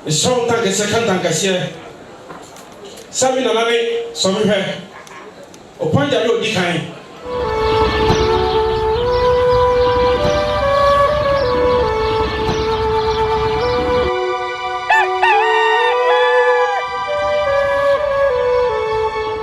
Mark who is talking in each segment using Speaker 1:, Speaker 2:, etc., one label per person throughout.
Speaker 1: Esɔn tankɛseɛ ka ntankɛseɛ Sami nana ne Sɔmi hwɛ Opanja ne odi kan.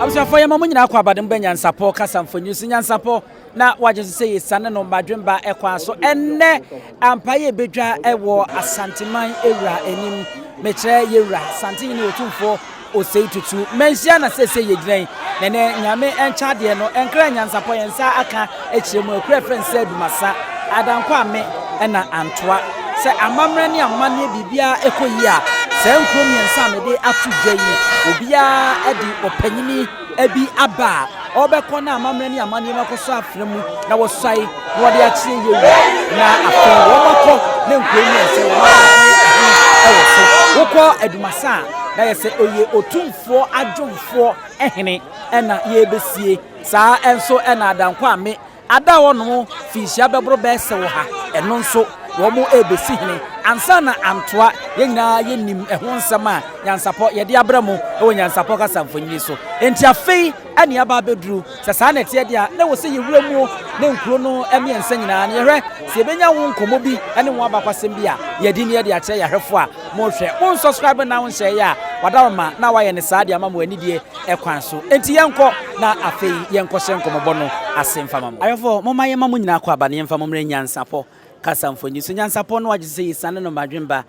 Speaker 2: Abusuafoɔ yɛma mo nyinaa kɔ abadom bɛ nyansapɔ kasa mfoni so nyansapɔ. na wagye so sɛ yɛsiane no Badwemba kwan so. Ɛnnɛ, ampa yɛ bɛdwa wɔ Asanteman Ewura anim. Mekyerɛ yɛwura, Santenyini Otumfoɔ Osei Tutu. Manhyia na sɛsɛ yɛgyina yi. Na ɛnɛ, Nyame nkyɛ adeɛ no, ɛnkra nyansapɔ yɛn nsa aka akyerɛ mu. Akura frɛ nsɛ adumasa, Adankwa ame na Antoa. Sɛ amammerɛ ne amanneɛ biribiara ɛkɔ yie a, saa nkuro mmiɛnsa a mede ato dwa yi, obiara de ɔpanyini bi aba a, ɔrebɛkɔ na amammerɛ ne amanneɛ no akɔsɔ afena mu na wɔsuae na wɔde akyerɛ yie na afei wɔakɔ ne nkoa mu sɛ wɔakɔyɛ wɔ so. Wokɔ Adumasa a, na yɛ sɛ ɛyɛ Otumfoɔ Adwomfoɔ hene na yɛrebɛsie. Saa nso na Adankwa Ame Ada hɔ nom finhyia bɛboro bɛɛsew ha, ɛno nso wɔn rebesi hene ansa na antoa, yɛn nyinaa yɛnim ɛho nsɛm a nyansapɔ yɛde abrɛ mo wɔ nyansapɔ kasa mfonini so, enti afei na yɛaba abɛduru, sɛ saa na ɛteɛ deɛ a, na ɛwɔ sɛ yɛwura mu ne nkuro no mmiɛnsa nyinaa na yɛhwɛ sɛ yɛbɛnya ho nkɔmmɔ bi ne ho abakwasɛm bi a yɛadi na yɛde akyerɛ yɛn ahwɛfoɔ a morehwɛ. Mo nsɔskraibe na wonhyɛeɛ a, wɔada wo ma na wɔayɛ no saa de ama mo anidie. kwan so. Enti yɛnkɔ, na afei yɛnkɔhyɛ nkɔmmɔbɔ no ase mfa ma mo. Ayɔfo, momma yɛmma mo nyinaa akwaaba no yɛmfa mo mmra nyansapɔ kasamfo ani so. Nyansapɔ no agye sɛ yesian no mmadwemma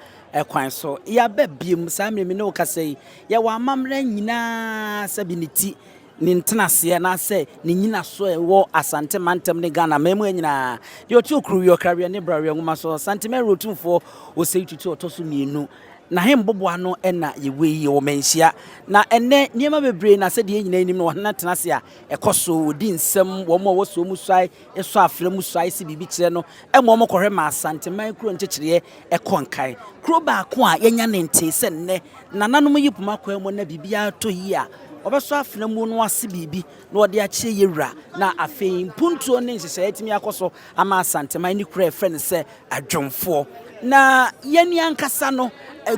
Speaker 2: kwan so. Yɛaba bio, saa mmere me ne wo kasa yi. Yɛwɔ amammerɛ nyinaa, sɛbe ne ti, ne ntenaseɛ, anaasɛ ne nnyinaso a ɛwɔ Asante mantam ne Ghana amammua nyinaa. Deɛ ɔte Okuruwia, Ɔkraweɛ ne Braweɛ nwoma so, Santemɛre Otumfoɔ Osei Tutu a ɔtɔ so mmienu, Na he mboboa no na yewɔ yi? Ɔwɔ manhyia. Na ɛnnɛ, nneɛma bebree na sɛdeɛ yɛn nyinaa nim no, ɔhene tena ase a, ɛkɔ so. Wɔdi nsɛm, wɔn a wɔsoɔ mu suae sɔ afra mu suae se biribi kyerɛ no ma wɔkɔhwɛ ma Asanteman kuro nkyekyereɛ kɔ nkan. Kuro baako a yɛanya ne ntee sɛ nnɛ nananom yi poma kwan mu na biribiara retɔ yie a, wɔbɛsɔ afra mu no ase biribi na wɔde akyerɛ yɛwura na afei mpuntuo ne nhyehyɛeɛ atumi akɔ so ama Asanteman ne kuro a yɛfrɛ no sɛ Adwomfoɔ. Na yɛn ankasa no,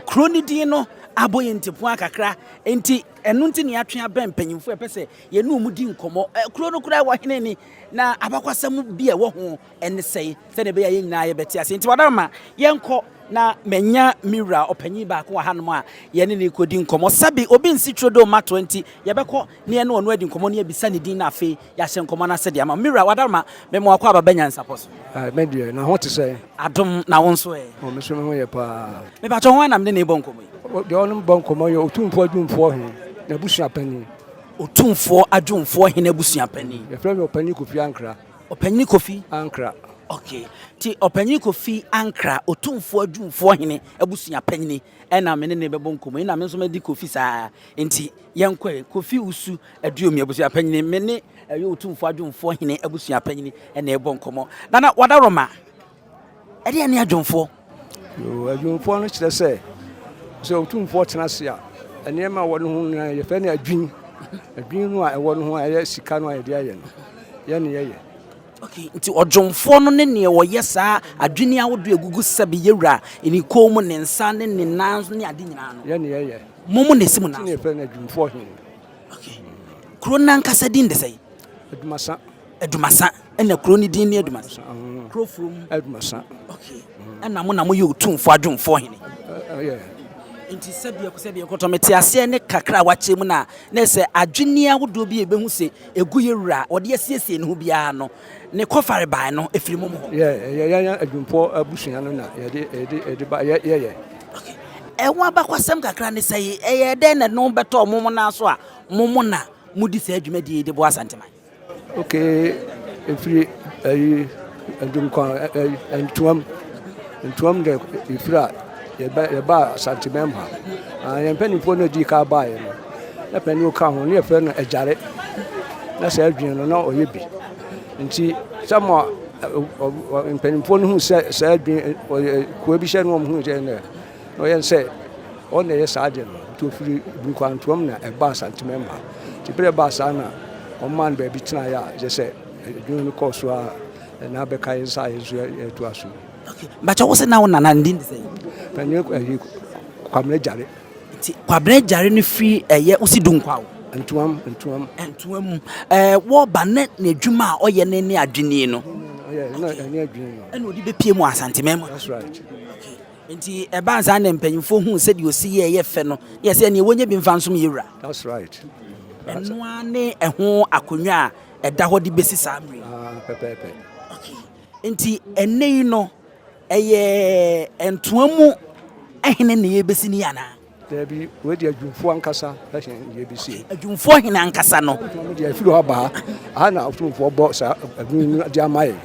Speaker 2: kuro no din no abɔ yɛn ntipua kakra, enti ɛno nti na yɛatwe abɛn mpanyimfoɔ a yɛpɛ sɛ yɛne wɔn di nkɔmmɔ. Kuro no koraa wɔ hene ni, na abakɔsɛm bi a ɛwɔ ho ne sɛn, sɛdeɛ ɛbɛyɛ a yɛn nyinaa yɛbɛte aseɛ. Nti Wadama, ma yɛnkɔ na manya me wura ɔpanyin baako wɔ hanom a yɛne no rekɔdi nkɔmmɔ. Sɛbe obi nsi turo dɛ ɔmmatoa nti, yɛbɛkɔ. ne yɛne ɔno adi nkɔmmɔ na yɛabisa ne din na afei yɛahyɛ nkɔmmɔ no ase de ama. Mira, w'adarma, mema w'akɔ aba Bɛnyansapɔ so. Ae, me deɛ, na ho te
Speaker 3: sɛn? Adom, na wo nso
Speaker 2: ɛ? O, me nso me ho yɛ pa
Speaker 3: ara. Mepakyɛ, hwan na me ne
Speaker 2: no rebɔ nkɔmmɔ yi? O, deɛ ɔne me bɔ nkɔmmɔ
Speaker 3: yɛ Otumfoɔ Adwumfoɔ He n'abusua panin. Otumfoɔ
Speaker 2: Adwumfoɔ He n'abusua panin. Yɛfrɛ no Ɔpanyin Kofi
Speaker 3: Ankra. Ɔpanyin Kofi?
Speaker 2: Ankra. Ok,
Speaker 3: nti
Speaker 2: Ɔpanyin Kofi Ankra, Otumfoɔ Adwumfoɔ He abusua panin, Ɛna me ne no bɛbɔ nkɔmmɔ yi na me nso madi Kofi saa nti yɛnkɔe. Kofi Usu Aduomi abusuapanyini, me ne ɛyɛ Otumfoɔ Adwomfoɔ Hene abusuapanyini na ɛrebɔ nkɔmmɔ. Nana Wadaroma, ɛdeɛn ne Adwomfoɔ? Yoo,
Speaker 3: Adwomfoɔ no kyerɛ sɛ, sɛ Otumfoɔ tena ase a, nneɛma a ɛwɔ ne ho nyinaa yɛfrɛ no adwini. Adwini no a ɛwɔ ne ho a ɛyɛ sika no a yɛde ayɛ no, yɛn na yɛyɛ. Nti
Speaker 2: ɔdwomfoɔ no ne neɛ ɔyɛ saa adwene a wode agugu sɛ beyɛ wura ne kɔn mu, ne nsa ne ne nan ne ade nyinaa no. Yɛ ne yɛyɛ. Mo mo
Speaker 3: na esi mo nan so. Nti na
Speaker 2: yɛfrɛ no adwumfoɔ
Speaker 3: he.
Speaker 2: Kuro no ankasa din de sɛn? Adumasa. Adumasa. Ɛna kuro no din ne Adumasa. Kuro furo mu. Adumasa. Ɛna mo na moyɛ otumfoɔ adwomfoɔ hene. Ɛyɛ.
Speaker 3: Nti
Speaker 2: sɛdeɛ sɛdeɛ kɔtɔ mete aseɛ ne kakra a wakyɛ mu na na sɛ adwene ahodoɔ bi a ɛbɛhu sɛ Egu yɛ wura a ɔde asiesie ne ho biara no ne kɔfarebae no firi mom hɔ. Yɛ, yɛ, yɛn adwumpɔ
Speaker 3: abusua no na yɛde, yɛde, yɛde ba, yɛ, yɛyɛ. Okay. Ɛho
Speaker 2: abakɔsɛm kakra ne sɛ ɛyɛ dɛn na ɛno bɛtɔɔ mom nan so a mom na modi saa dwumadie yi de boa Asanteman? Okay,
Speaker 3: ɛfiri ayi. Ndwom kwan ɛ ntoam ntoam dɛ efir a yɛbɛ yɛbaa Asantebɛn mu ha. Aa hɛn mpanyimfoɔ no a edii kan baeɛ no, na panin a ɔka ho no yɛfrɛ no Agyare. Na saa adwene no na ɔyɛ bi. Nti sɛ mo mpanyimfoɔ no hu sɛ saa adwene ɔyɛ koa bi hyɛ no wɔn ho sɛ na ɔyɛ sɛ ɔn na ɛyɛ saa adeɛ no. Nti ofiri Bunkwantoam na ɛbaa Asantebɛn mu ha. Nti berɛ ɛbaa saa na wɔmaa no baabi tenaeɛ a kyerɛ sɛ Dwom no kɔ so ara na bɛka yɛn nsa a yɛn so yɛtoa
Speaker 2: so. Bàtchɛ wo se
Speaker 3: na wo
Speaker 2: nana ne din de sɛn? Ɛnyɛ ɛyi Kwabena
Speaker 3: Gyare. Nti Kwabena
Speaker 2: Gyare no firi ɛyɛ wosi Dunkwaw? Ntuam Ntuam.
Speaker 3: Ntuam mu.
Speaker 2: Ɛɛ wɔba ne n'adwuma a ɔyɛ ne ne adwini no. Ɔyɛ ɛna ɛne
Speaker 3: adwini no. Ɛna ɔde bɛpie mu Asanteman
Speaker 2: mu. That's right.
Speaker 3: Okay. Nti
Speaker 2: ɛbaa nsa na mpanyinfoɔ hu sɛdeɛ ɔsi yɛ ɛyɛ fɛ no yɛ sɛ ɛneɛ wɔnyɛ bi nfa nsom yɛ wura. That's right.
Speaker 3: Ɛnoa
Speaker 2: ne ɛho akonnwa a Ɛda hɔ de bɛsi saa mmerɛ yi. Ah, pɛpɛɛpɛ.
Speaker 3: Okay.
Speaker 2: Nti ɛnɛ yi no, ɛyɛ ntoa mu hene na yɛbɛsi ne anaa? Dabi, wei
Speaker 3: deɛ adwumfoɔ ankasa ɛhene na yɛbɛsi. Okay. Adwumfoɔ hene ankasa
Speaker 2: no. Deɛ ɛfiri hɔ abaa,
Speaker 3: aha na atumfoɔ bɔ saa adwene no de ama yɛ.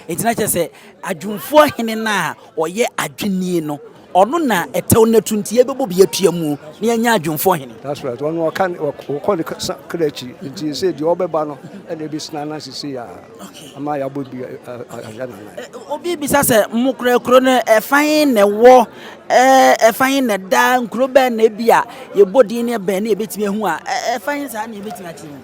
Speaker 3: Nti na kyerɛ sɛ
Speaker 2: adwumfoɔ hene no a ɔyɛ adwene no, Ɔno na ɛtɛw no atu nti yɛbɛbɔ bi atua mu na yɛanya adwumfoɔ hene. That's right. Ɔno ɔka ne
Speaker 3: ɔkɔ ne kra akyi nti sɛ deɛ ɔbɛba no ɛna ebi sena na sisi a ama yɛabɔ bi ayɛ nana. Obi bisa sɛ
Speaker 2: mo kura kuro no ɛfan na ɛwɔ ɛfan na ɛda nkuro bɛn na ebi a yɛbɔ din ne bɛn na yɛbɛtumi ahu a ɛfan saa na yɛbɛtumi akyerɛ mu.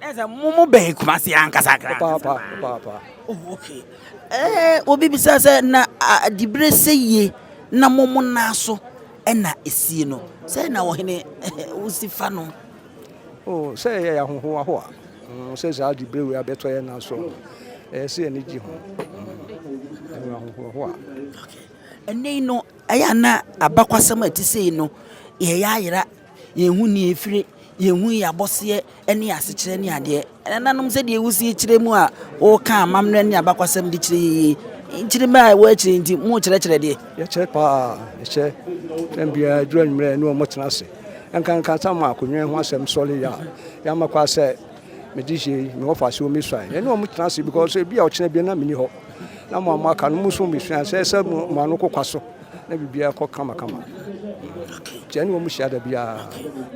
Speaker 2: Ɛsɛ mo mo bɛn Kumasi ankasa kra. Papaapa papaapa. Oh
Speaker 3: okay.
Speaker 2: Eh obi bisa sɛ na adibere sɛ yie na mo mo nan so ɛna esie no sɛ na ɔhene wosi fa no. Oh sɛ
Speaker 3: yɛ yɛ ahoho aho a sɛ saa adibere wei abɛtɔ yɛ nan so ɛyɛ sɛ yɛn gye ho ɛwɔ ahoho aho a.
Speaker 2: Ɛnɛ yi no ɛyɛ ana abakwasɛm a ɛte sɛ yi no yɛyɛ ayera Yɛn ho nni efire, yɛn ho yɛ abɔseɛ ne asekyerɛ ne adeɛ. Ɛnananom sɛdeɛ wosie kyerɛ mu a woka amammerɛ ne abakwasɛm de kyerɛ yie. Nkyiri mmerɛ a ɛwɔ akyire nti mokyerɛkyerɛ deɛ. Yɛkyerɛ paa,
Speaker 3: yɛkyɛ tɛm biara duru anwummerɛ ne wɔn tena ase. Ɛnkanka sɛ ama akonnwa ho asɛm sɔre yɛ a, yɛama kwa sɛ mede hyɛ yi, mewɔ fa so mesuae. Yɛne wɔn tena ase because ebi a ɔkyena bi na menni hɔ. Na mo a moaka no mo nso mesua sɛ ɛsɛ mo ano kokwa so. Na biribiara kɔ kamakama. Nti ɛne wɔn hyia da biara.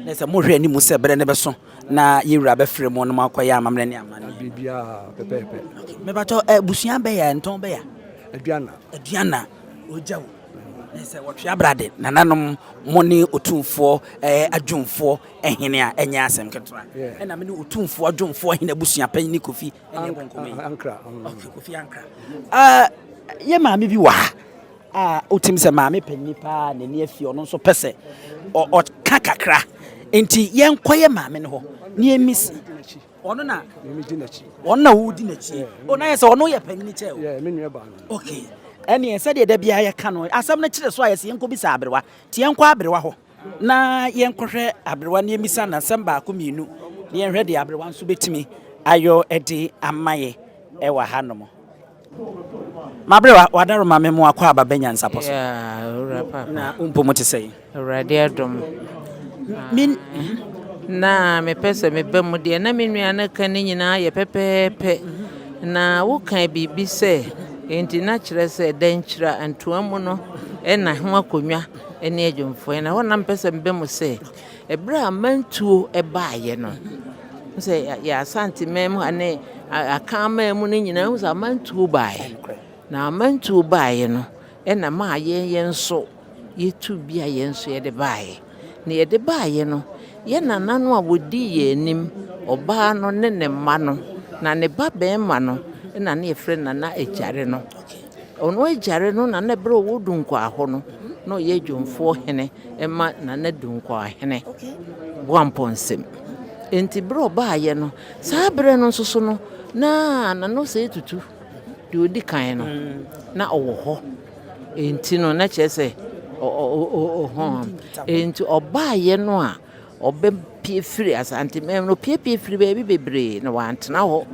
Speaker 3: Na sɛ mohwɛ
Speaker 2: anim sɛ berɛ no bɛso na yɛn wura bɛfrɛ mo na moakɔyɛ amammerɛ ne amanneɛ. Biribiara pɛpɛɛpɛ.
Speaker 3: Mebatɔ
Speaker 2: abusua bɛya ntɔn bɛya. Aduana. Aduana ogya o. Na sɛ wɔtwe abrade nananom mo ne otumfoɔ ɛɛ adwumfoɔ ɛhene a ɛnyɛ asɛm ketewa. Ɛna me ne otumfoɔ adwumfoɔ ɛhene abusua panyin ne Kofi ɛna ɛbɔ nkɔmɔ yi. Ankra. Kofi
Speaker 3: Ankra.
Speaker 2: Ah, yɛ maame bi wɔ ha. a wotim sɛ maame panyin paa n'ani afi ɔno nso pɛ sɛ ɔka kakra nti yɛnkɔyɛ maame no hɔ ne emisi ɔno na emigye n'akyi
Speaker 3: ɔno na wodi n'akyi
Speaker 2: o na yɛ sɛ ɔno yɛ panyin kyɛ o yɛ me nua baa no
Speaker 3: okay ɛneɛ
Speaker 2: sɛdeɛ da biara yɛka no asɛm no kyerɛ so a yɛsɛ yɛnkɔ bisa aberewa nti yɛnkɔ aberewa hɔ na yɛnkɔhwɛ aberewa ne emisa na asɛm baako mmienu na yɛnhwɛ deɛ aberewa nso bɛtumi ayɔ de ama yɛ ɛwɔ ha nom Mabrɛ w'adaroma me mo akwaaba bɛ nyansapɔ so.
Speaker 4: Na wo mpo mo te
Speaker 2: sɛn? Awurade adom
Speaker 4: na mepɛ sɛ me ba mu deɛ na me nua no ka ne nyinaa yɛ pɛpɛɛpɛ na woka biribi sɛ nti na kyerɛ sɛ dankyira ntoa mu no ɛna ho akonnwa ɛne adwumfoɔ ɛna hɔ na mepɛ sɛ me ba mu sɛ. Ɛberɛ a amantuo baeɛ no, wohu sɛ yɛn Asanteman mu ha ne Akanman mu no nyinaa wohu sɛ amantuo baeɛ. Na amantuo baeɛ no ɛna maa yɛn yɛn nso yɛtu bi a yɛn nso yɛde baeɛ. Na yɛde baeɛ no, yɛn nana no a wɔdii yɛn anim, ɔbaa no ne ne mma no, na ne ba barima no na na yɛfrɛ no Nana Agyare no. Ɔno agyare no nana berɛ a ɔwɔ Dunkwaa hɔ no, na ɔyɛ adwumfoɔ hene ma Nana Dunkwaa hene Boampɔ Nsem. Enti berɛ a ɔbaeɛ no, saa berɛ no nso so no, na Nana Osei Tutu, deɛ ɔdi kan no, na ɔwɔ hɔ. Enti no, na kyerɛ sɛ ɔhɔn. Enti ɔbaeɛ no a, ɔbɛpie firi Asante man mu no, ɔpiapie firi baabi bebree na wantena hɔ.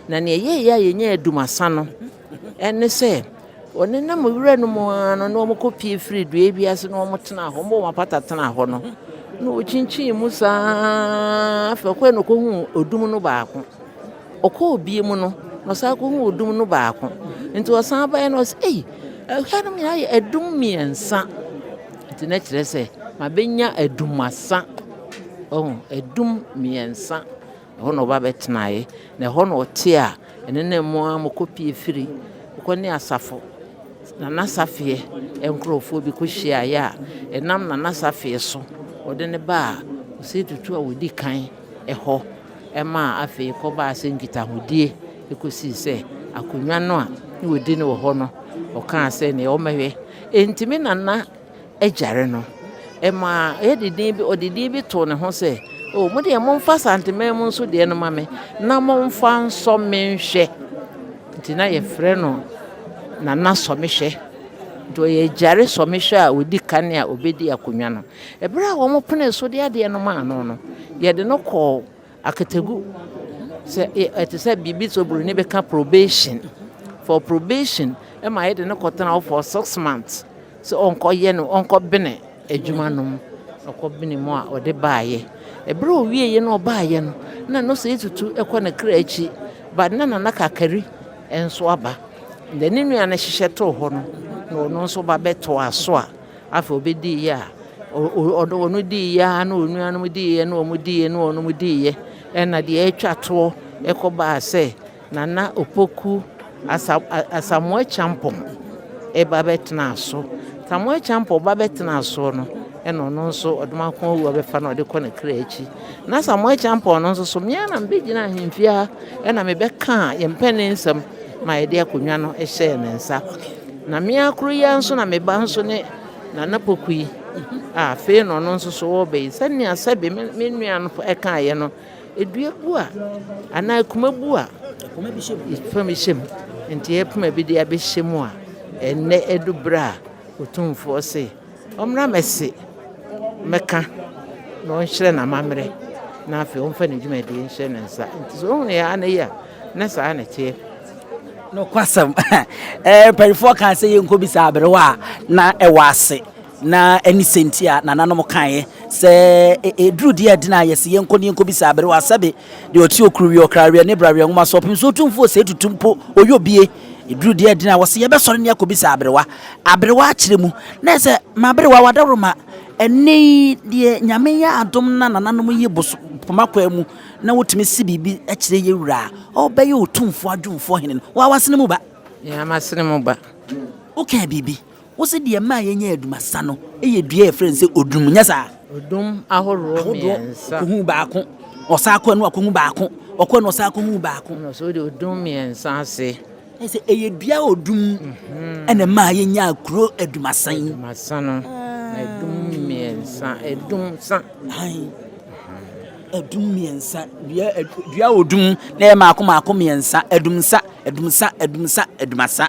Speaker 4: Na nea ɛyɛeɛ a yɛnyaa Dumasa no, Ɛne sɛ, wɔnenam wura no mu ara no, na wɔkɔpue firi dua bi ase na wɔtena hɔ. Wɔbɔ wɔn apata tena hɔ no, na wɔkyinkyin mu saa ara. Afei ɔkɔe na ɔkɔhuu odum no baako. Ɔkɔɔ bie mu no, na ɔsan kɔhuu odum no baako. Nti ɔsan baeɛ na ɔsɛ, ei, ɛha no nyinaa yɛ adum mmiɛnsa. Nti na kyerɛ sɛ, mabɛnya adumasa. Ɔho, adum mmiɛnsa. Ɛhɔ na ɔba bɛtenaeɛ, na ɛhɔ na ɔte a ɛnenam mu ara mokɔpue firi kɔ ne asafo Nana Safeɛ nkurɔfoɔ bi kɔhyiaeɛ a ɛnam Nana Safeɛ so ɔde no baa Osei Tutu a ɔdi kan hɔ maa afei kɔbaa sɛ nkitahodie kɔsii sɛ akonnwa no a na ɔdi no wɔ hɔ no ɔkaa sɛ nea ɔmmɛhwɛ. Enti me Nana agyare no. Ɛmaa yɛde din bi, ɔde din bi too ne ho sɛ, O mo deɛ momfa Santeman mu nso deɛ no ma me, na momfa nsɔ me nhwɛ. Nti na yɛfrɛ no Nana Sɔmehwɛ. Nti ɔyɛ agyare sɔmehwɛ a ɔdi kan a ɔbɛdi akonnwa no. Ɛberɛ a wɔpenee so de adeɛ no maa no no, yɛde no kɔɔ Akatagu, sɛ ɛte sɛ biribi sɛ oburoni bɛka probation, for probation ma yɛde no kɔtena hɔ for six months sɛ ɔnkɔyɛ no ɔnkɔbene adwuma no mu. Ɔkɔbene mu a ɔde baeɛ. Ɛberɛ a ɔwieeɛ na ɔbaeɛ no na no sɛ tutu kɔ ne kra akyi but na Nana Kakari nso aba. Deɛ ne nua no hyehyɛ too hɔ no na ɔno nso ba bɛtoaa so a Afei ɔbɛdiiɛ a, ɔno diiɛ ara na onuanom diiɛ na wɔn diiɛ na wɔn diiɛ. Ɛna deɛ ɛretwa toɔ ɛkɔbaa sɛ Nana Opoku Asa Asamoah Kyampɔn ɛba bɛtenaa so. Asamoah Kyampɔn ba bɛtenaa soɔ no, ɛna ɔno nso ɔdomako awuo bɛfa na ɔde kɔ ne kra akyi. Na Asamoah Kyampɔn no nso so, mmea na mebɛgyina ahemfie ha ɛna mebɛkaa yɛn mpanin nsɛm ma yɛde akonnwa no hyɛɛ ne nsa. Na me ara koro yi ara nso na me ba nso ne Nana Poku yi a afei na ɔno nso so ɔreba yi. Sɛnea sɛbe me me nua no ɛkaeɛ no, edua bu a anaa akuma bu a fa me hyɛ mu. Nti yɛpoma bi de abɛhyɛ mu a ɛnnɛ ɛdu berɛ a Otumfoɔ se. Ɔmmra mɛse mɛka na ɔnhyerɛ n'amammerɛ na afei ɔmfa ne dwumadie nhyɛ ne nsa. Nti sɛ ɔhunu yɛn anɛ yi a, na saa na ɛteɛ. Nokwasɛm.
Speaker 2: Eh, mpanimfoɔ kaa sɛ yɛnkɔbisa aberewa a na ɛwɔ ase na ɛne sɛnti a nananom kaeɛ sɛ ɛduru deɛ ɛdene a yɛse yɛnkɔ ne yɛnkɔbisa aberewa sɛbe deɛ ɔte okuruweɛ, ɔkraweɛ ne braweɛ nwoma so ɔpem sɛ ɔtumfoɔ sɛ ɛtutu mpo ɔyɛ obie. Ɛduru deɛ adina a, wɔse yɛbɛsɔre ne akɔbisa aberewa. Aberewa akyerɛ mu. Na ɛsɛ, maberewa wadawroma. Ɛnnɛ yi deɛ Nyame yɛ adom na nananom yi bos poma kwan mu na wɔtumi se biribi kyerɛ yɛ wura a, ɔbɛyɛ Otumfoɔ Adwumfoɔ Hene no. Wo a w'asene mu ba? Yɛ a m'asene mu
Speaker 4: ba. Wokaa biribi?
Speaker 2: Wose deɛ ɛmaa yɛnya adumasa no yɛ dua a yɛfrɛ no sɛ odum, nyɛ saa? Odum ahoroɔ
Speaker 4: mmiɛnsa. Ɔkɔhu baako,
Speaker 2: ɔsan akɔ ɛno akɔhu baako, ɔkɔ ɛno ɔsan akɔhu baako. Ɛna so de odum
Speaker 4: mmiɛnsa ase. Ɛyɛ sɛ ɛyɛ dua
Speaker 2: a odum mhm. ɛna ɛmaa yɛnya kuro adumasa yi. Adumasa no, na
Speaker 4: ɛdum mmiɛnsa, ɛdum sa.
Speaker 2: Ɛdum mmiɛnsa, dua dua odum na ɛyɛ maako maako mmiɛnsa, ɛdum sa, ɛdum sa, ɛdum sa, ɛdumasa.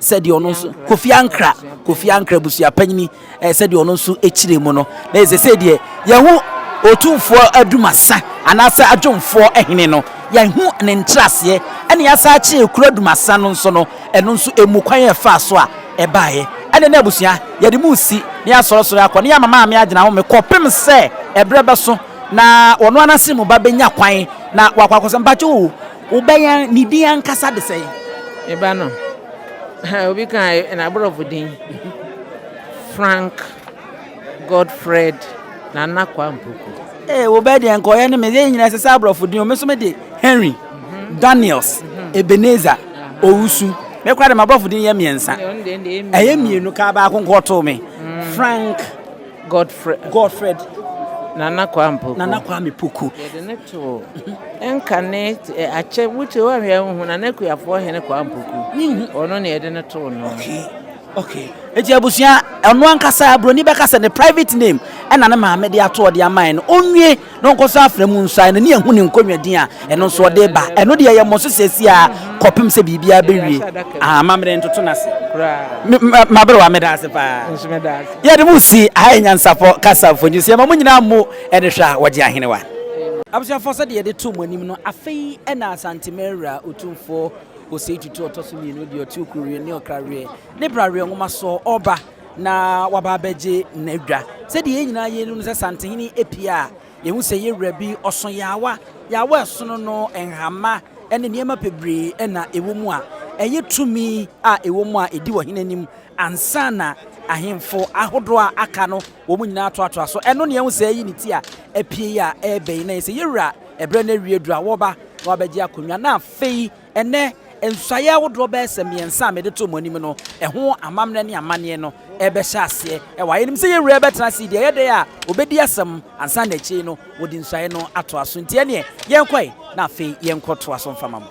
Speaker 2: sɛdeɛ ɔno nso Kofi Ankra Kofi Ankra abusuapanyini eh, sɛdeɛ ɔno nso kyerɛ mu no na ɛsɛ sɛ deɛ yɛho ɔtumfoɔ adumasa anaasɛ adwomfoɔ hene no yɛho ne nkyerɛaseɛ ɛne yɛasa akyerɛ kuro adumasa no nso no ɛno nso ɛmu kwan ɛfaa so a ɛbaeɛ ɛne na abusua yɛde mu si ne yɛasɔresɔre akɔ ne yɛama maame agyina home kɔpem sɛ ɛberɛ bɛso na ɔno anase mu ba bɛnya kwan na wakɔ akɔsɛ mpakye o Wobɛyan ne din ankasa de sɛn? Me ba no,
Speaker 4: obi ka n'aborɔfo din, Frank Godfred Nana Kwampoko. Ee, wobɛyɛ deɛ
Speaker 2: nka ɔyɛ ne me. Yɛn nyinaa ɛsɛ sɛ aborɔfo din o. Me nso mede Henry, Daniels, Ebenezer, Owusu. Me koraa deɛ, m'aborɔfo din yɛ mmiɛnsa. Ɛyɛ mmienu kaa baako nko ɔtoo me, Frank. Godfred
Speaker 4: Nana Kwame Poku. Nana Kwame Poku. Yɛde no too nkane akyɛ wotie woanhwɛ wohu Nana Kuafoɔ hene Kwame Poku. Ɔno na yɛde no too no. Okay. Okay.
Speaker 2: Eti abusua ɛno ankasa Broni bɛka sɛ ne private name ɛna ne maame de ato ɔde amae no. Onwie. na ɔnkɔsɔ afra mu nsɔ a n'ani ahu ne nkonnwa din a ɛno nso ɔde reba. Ɛno deɛ, yɛmmɔ so sɛɛ si ara kɔpem sɛ biribiara bɛwie. Ahaa, mammere ntoto no ase. Me, me, m'aberewa, meda ase paa. Yɛde mo si aha yɛ nyansafɔ kasa mfoni so. Yɛma mo nyinaa mmu ɛne hwɛ a wɔgye ahenewa. Abusuafoɔ, sɛdeɛ yɛde too mo anim no, afei na Asanteman Awuraa Otumfoɔ Osei Tutu Ɔtɔso Mmienu deɛ ɔte Okuruweɛ ne Ɔkraweɛ ne Braweɛ Nwomasoɔ ɔreba. na waba abɛgye n'adwa. Sɛdeɛ yɛn nyinaa yɛnim no sɛ santehene apue a, yɛhu sɛ yɛn wura bi ɔso yaawa. Yaawa ɛsono no nhama ne nneɛma bebree na ɛwɔ mu a ɛyɛ tumi a ɛwɔ mu a ɛdi ɔhene anim ansa na ahemfo ahodoɔ a aka no wɔn nyinaa toatoa so. Ɛno ne ɛho sɛ ɛyi ne ti a apue a ɛrebɛn na yɛ sɛ yɛn wura ɛberɛ no awie duru a wɔba na wabɛgye akonnwa na afei Ɛnnɛ, nsuaeɛ ahodoɔ bɛyɛ sɛ mmiɛnsa a mede too mo anim no ho amammerɛ ne amanneɛ no rebɛhyɛ aseɛ wɔ ha. Yɛnim sɛ yɛn Wura bɛtena ase yi deɛ, ɛyɛ dɛn a ɔbɛdi asɛm ansa na akyire yi no wɔde nsuaeɛ no atoa so. Enti ɛnneɛ, yɛnkɔe na afei yɛnkɔtoa so mfa ma mo.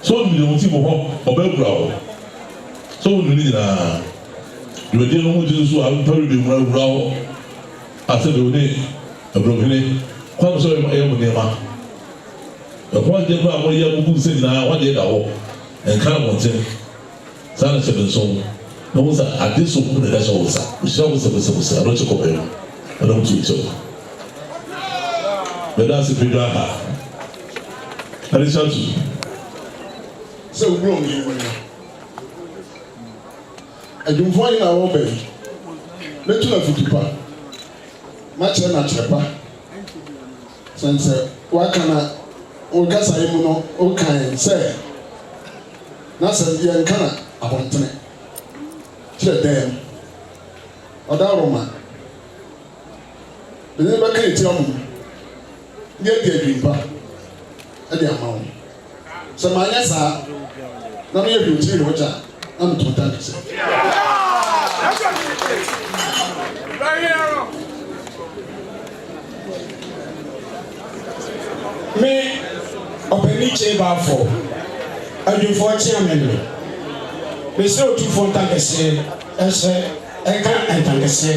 Speaker 5: So wonim deɛ ɔte wɔ hɔ? Ɔbɛkura wo. So wonim ne nyinaa? Dwumadie no ho gyina so a, nnipa bi bɛwura wura hɔ a sɛdeɛ wo ne Aburohene Kwame sɛ ɔyɛ mo nneɛma. Ɛho adeɛ koraa a moyɛ a mogu nsɛm nyinaa, ɛho adeɛ da hɔ. Ɛnka abɔnten. Saa na hyɛ me nsow na hu sɛ ade som bo na ɛda hyɛ wo nsa. Mehyira wo sɛbosɛbosɛ, ɛno kye kɔbere no na wo tuo kyɛw. Meda ase Pedro aha, Alichantu,
Speaker 1: sɛ wura wo yɛ wura. Adwumfoɔ ahe na wɔreba yi? Mɛtu no afutu pa, makyerɛ no akyerɛ pa. Sɛn sɛ woaka na wo kasaeɛ mu no wokae sɛ. N'asɛm deɛ nka na abɔntene kyerɛ dɛɛm ɔdawroma de ne bɛka atia mo mu de adi adwinpa de ama wo. Sɛ manyɛ saa na meyɛ hwetee wɔ gya a na me kontan kɛsɛ. Me, Ɔpanin Kyei Balfour, Adwumfoɔ Kyeamenne, mesrɛ wo tu fo ntankɛseɛ hyɛ ɛka ntankɛseɛ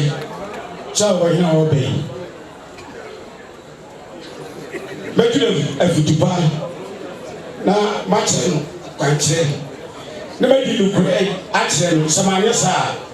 Speaker 1: kyerɛ ɔhene a ɔreba yi. Mɛtu no afutu pa na makyerɛ no kwankyerɛ na madi nokorɛ akyerɛ no, sɛ manyɛ saa a,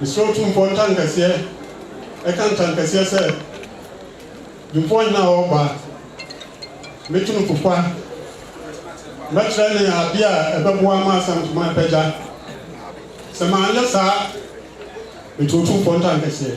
Speaker 1: Esuro tumfoɔ ntankɛseɛ, ɛka ntankɛseɛ sɛ, Tumfoɔ hena a ɔreba? Mɛtu no fo kwa. Mɛkyerɛ no adeɛ a ɛbɛboa ma asankuma apagya. Sɛ manyɛ saa a, mete Otumfoɔ ntankɛseɛ.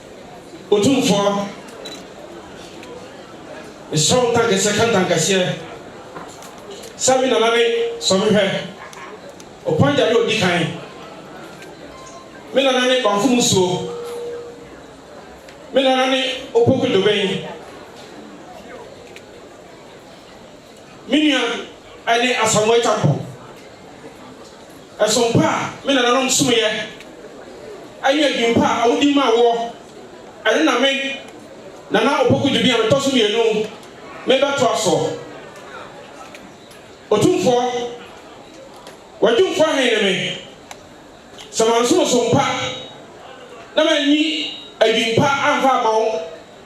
Speaker 6: Otumfoɔ, mesrɛ wo ntankɛseɛ ka ntankɛseɛ, sɛ me nana ne sɔ me hwɛ, Opanja ne ɔdi kan, me nana ne Banfo Musuo, me nana ne Opoku Doben. Me nua ne Asamoah Acheampong, ɛsom pa a me nananom someeɛ ne adwinpa a wodi maa woɔ, ɛno na me, Nana Opoku Gyebin a metɔ so mmienu, merebɛtoa soɔ. Otumfoɔ, w'adwumfoɔ he ne me, sɛ mansom som pa na manyi adwinpa amfa amma wo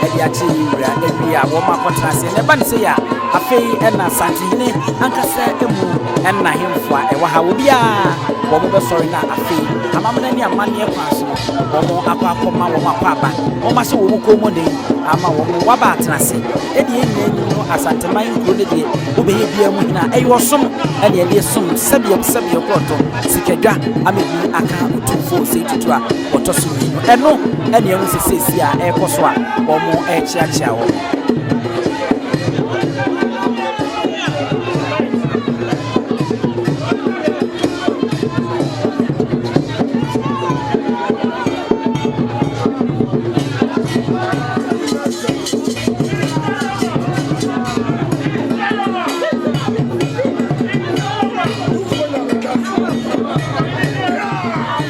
Speaker 2: de akyere ne wura na wie a wɔn akɔtena ase na ɛba ne sɛ a afei ɛna santehene ankasa mu ɛna hemfoa ɛwɔ ha wɔ biara wɔn bɛsɔre na afei amamena ne amanneɛ kwan so wɔn akɔ akɔma wɔn akɔ aba wɔn ahyɛ wɔn kɔn mu den ama wɔn waba atena ase ɛdeɛ nyinaa ni no asanteman nkuro no deɛ wobɛyɛ biara mu hena ɛyɛ ɔsom ɛne ɛdeɛ som sɛdeɛ sɛdeɛ kɔɔtɔ sikadwa amɛbi aka otumfoɔ sɛ tutu a wɔtɔ so mmienu. Ɛno ɛne ɛho sɛ seesie a ɛrekɔ so a wɔrekyeakyea wɔn.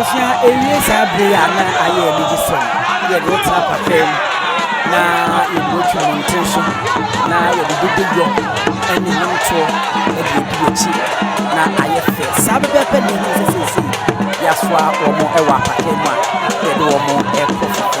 Speaker 2: abusua ewie saa bere a na ayɛ anigye sɛ yɛde tena papa mu na yɛde atwa mmɔnten so na yɛde dododwɔ ne nnwomtoɔ de adi akyi na ayɛ fɛ saa bɛbɛɛpɛ ne ɛho sɛ sɛsei yɛasoa wɔn wɔ apata mu a yɛde wɔn kɔ fam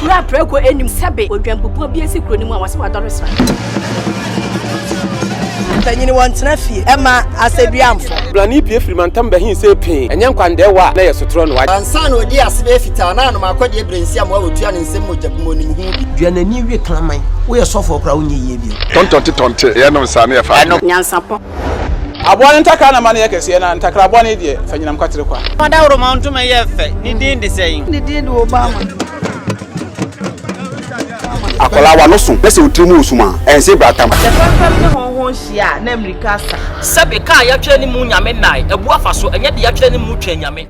Speaker 7: Kura prɛko anim sɛbe odwanpopɔn bi asi kuro no mu a wɔse wadɔre sra.
Speaker 8: Mpanyin wɔ ntena fie ɛma asɛduamfo. Brane pie firi
Speaker 9: mantam bɛhen se pee. Ɛnyɛ nkwandaɛ wɔ a na ɛyɛ sotorɔ noa. Ansa na ɔdii ase bɛyɛ
Speaker 8: fitaa na anom akɔdeɛ brensiam a ɔtua ne nsam mogya gu mu ɔnim ho bi. Dua n'ani we kraman.
Speaker 10: Woyɛ sɔfoɔ koraa wonyɛ yie bio. Tɔntɔnte tɔnte yɛ nom
Speaker 11: saa na yɛ fa adwene. Nyansapɔ.
Speaker 7: Aboa no
Speaker 9: ntakra na ma no yɛ kɛseɛ na ntakra aboa no yi deɛ fa nyinam kwatere kwa. Fa dawuroma ntoma yɛ
Speaker 12: fɛ, ne din de sɛn? Ne din de Obama.
Speaker 11: Akwadaa wa no so na sɛ otiri mu wɔ sum a, ɛnse bra tam. Sɛ fɛmfɛm ne
Speaker 12: hɔnhɔn hyia a, na mmirika
Speaker 10: asa. Sɛbe, ka a yɛatwerɛ ne mu Nyame nnae, abu afa so, ɛnyɛ deɛ yɛatwerɛ ne mu
Speaker 12: twɛn
Speaker 10: Nyame.